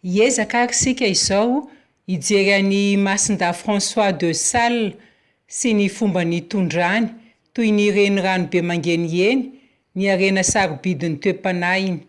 Hiezaka ary isika izao hijery an'i Masindahy François de Sales sy ny fomba nitondrany, toy ny renirano be mangeniheny, ny harena sarobidin'ny toe-panahiny.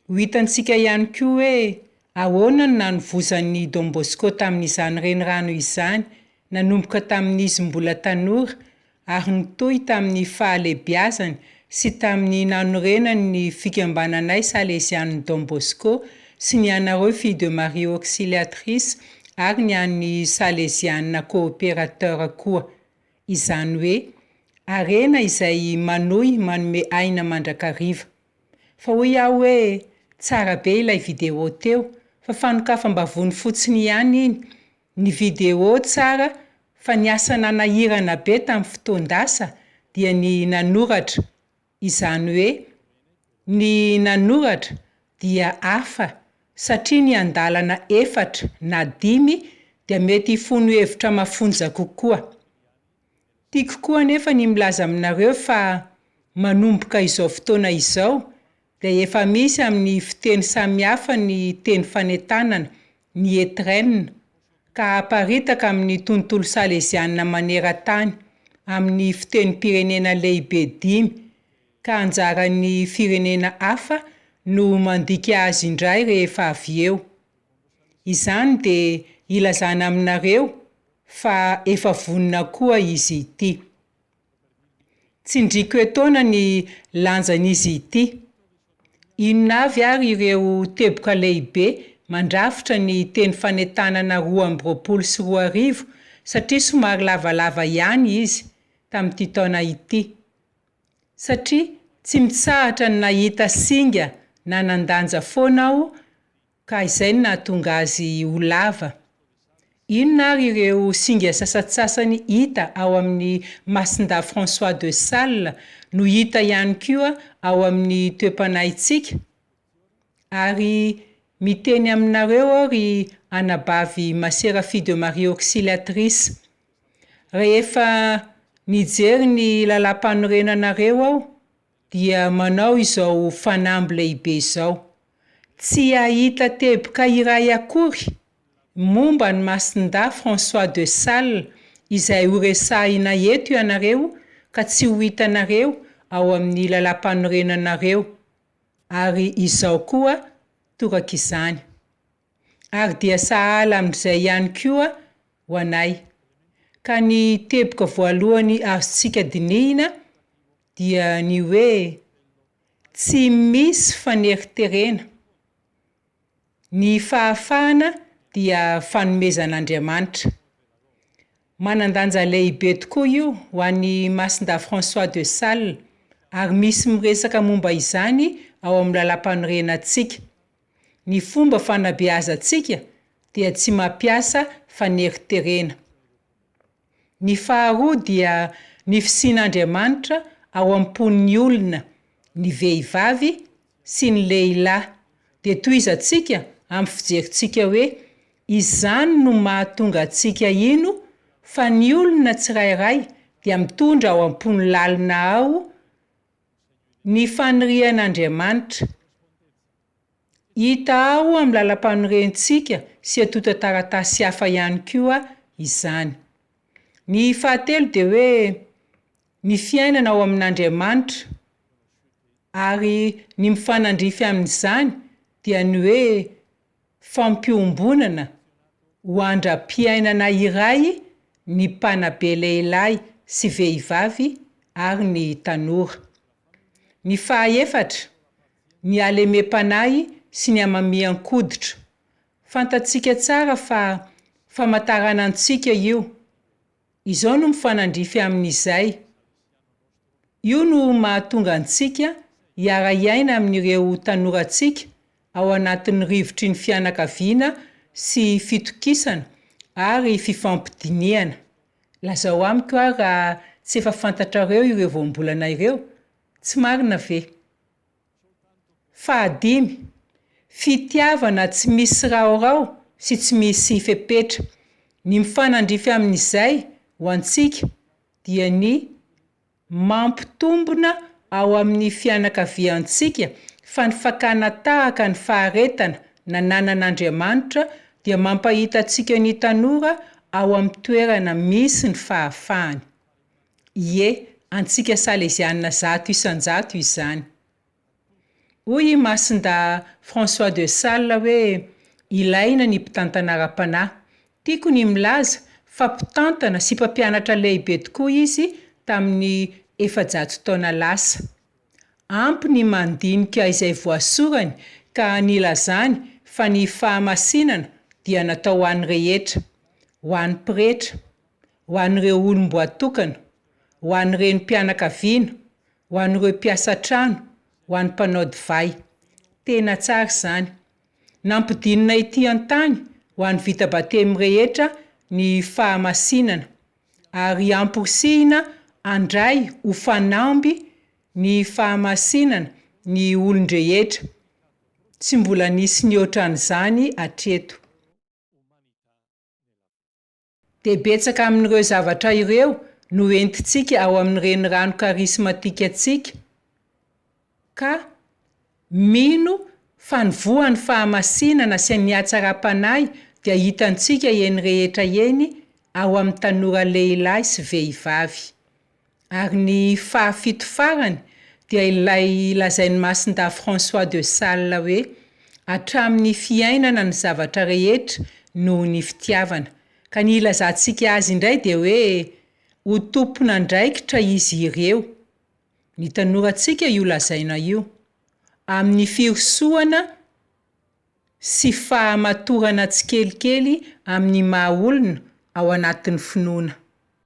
Ho hitantsika ihany koa hoe ahoana no nanovozan'i Don Bosco tamin'izany renirano izany, nanomboka tamin'izy mbola tanora ary nitohy tamin'ny fahalehibiazany sy tamin'ny nanorenany ny Fikambananay Salezianin'i Don Bosco sy ny anareo Filles de Marie Auxiliatrices ary ny an'ny Salezianina Coopérateur koa. Izany hoe, harena izay manohy manome aina mandrakariva. Fa hoy aho hoe, tsara be ilay vidéo teo, fa fanokafam-bavony fotsiny ihany iny, Ny video tsara fa ny asa nanahirana be tamin'ny fotoan-dasa dia ny nanoratra, izany hoe ny nanoratra dia hafa satria ny andalana efatra na dimy dia mety hifono hevitra mafonja kokoa. Tiako koa anefa ny milaza aminareo fa manomboka izao fotoana izao dia efa misy amin'ny fiteny samihafa ny teny fanentanana, ny étrennes, ka aparitaka amin'ny tontolo salezianina maneran-tany, amin'ny fitenim-pirenena lehibe dimy, ka anjaran'ny firenena hafa no mandika azy indray rehefa avy eo. Izany dia ilazana aminareo fa efa vonona koa izy ity. Tsindriako etoana ny lanjan'izy ity. Inona avy ary ireo teboka lehibe mandrafitra ny teny fanentanana roa amby roapolo sy roa arivo satria somary lavalava ihany izy tamin'ity taona ity? Satria tsy mitsahatra ny nahita singa nanan-danja foana aho Ka izay no nahatonga azy ho lava. Inona ary ireo singa sasantsasany hita ao amin'ny Masindahy François de Sales no hita ihany koa ao amin'ny toe-panahintsika? Ary miteny aminareo aho ry anabavy Masera Fille de Marie Auxiliatrice, rehefa nijery ny Lalàmpanorenanareo aho, dia manao izao fanamby lehibe izao, Tsy hahita teboka iray akory momba an'i Masindahy François de Sales izay horesahina eto ianareo ka tsy ho hitanareo ao amin'ny Lalàmpanorenanareo, ary izao koa torak'izany. Ary dia sahala amin'izay ihany koa ho anay. Ka ny teboka voalohany azontsika dinihina Dia ny hoe tsy misy faneriterena. Ny fahafahana dia fanomezan'Andriamanitra. Manan-danja lehibe tokoa io ho an'i Masindahy François de Sales ary misy miresaka momba izany ao amin'ny Lalàmpanorenantsika. Ny fomba fanabeazantsika dia tsy mampiasa faneriterena. Ny faharoa dia ny fisian'Andriamanitra ao am-pon'ny olona, ny vehivavy sy ny lehilahy. Dia tohizantsika amin'ny fijerintsika hoe, izany no mahatonga antsika hino fa ny olona tsirairay dia mitondra ao am-pony lalina ao ny fanirian'Andriamanitra. Hita ao amin'ny Lalampanorentsika sy antontan-taratasy hafa ihany koa izany. Ny fahatelo dia hoe ny fiainana ao amin'Andriamanitra, ary ny mifanandrify amin'izany dia ny hoe fampiombonana ho andram-piainana iray ny mpanabe lehilahy sy vehivavy ary ny tanora. Ny fahaefatra, ny halemem-panahy sy ny hamamian-koditra. Fantatsika tsara fa famantarana antsika io. Izao no mifanandrify amin'izay. Io no mahatonga antsika hiara-hiaina amin'ireo tanorantsika ao anatin'ny rivotry ny fianakaviana sy fitokisana ary fifampidinihana. Lazao amiko ary raha tsy efa fantatrareo ireo voambolana ireo, tsy marina ve? Fahadimy, fitiavana tsy misy raorao sy tsy misy fepetra. Ny mifanandrify amin'izay ho antsika dia ny. Mampitombina ao amin'ny fianakaviantsika fa ny fakana tahaka ny faharetana nananan'Andriamanitra dia mampahita antsika ny tanora ao amin'ny toerana misy ny fahafahany. Ie, antsika Salezianina zato isan-jato izany. Hoy i Masinda François de Sales hoe ilaina ny mpitantana ara-panahy. Tiako ny milaza fa mpitantana sy mpampianatra lehibe tokoa izy tamin'ny efajato taona lasa. Ampy ny mandinika izay voasorany ka nilazany fa ny fahamasinana dia natao ho an'ny rehetra, ho an'ny pretra, ho an'ireo olom-boatokana, ho an'ny renim-pianakaviana, Ho an'ireo mpiasa an-trano, ho an'ny mpanao divay. Tena tsara izany. Nampidinina ety an-tany ho an'ny vita batemy rehetra ny fahamasinana, ary amporisihina handray ho fanamby ny fahamasinana ny olon-drehetra. Tsy mbola nisy nihoatra an'izany hatreto. dia betsaka amin'ireo zavatra ireo no entintsika ao amin'ny renirano karismatikantsika, ka mino fa ny voan'ny fahamasinana sy ny hatsaram-panahy dia hitantsika eny rehetra eny ao amin'ny tanora lehilahy sy vehivavy. Ary ny fahafito farany dia ilay lazain'i Masindahy François de Sales hoe, Hatramin'ny fiainana ny zavatra rehetra noho ny fitiavana. Ka ny ilazantsika azy indray dia hoe, Ho tompon'andraikitra izy ireo. Ny tanorantsika io lazaina io. Amin'ny firosohana sy fahamatorana tsikelikely amin'ny maha-olona ao anatin'ny finoana.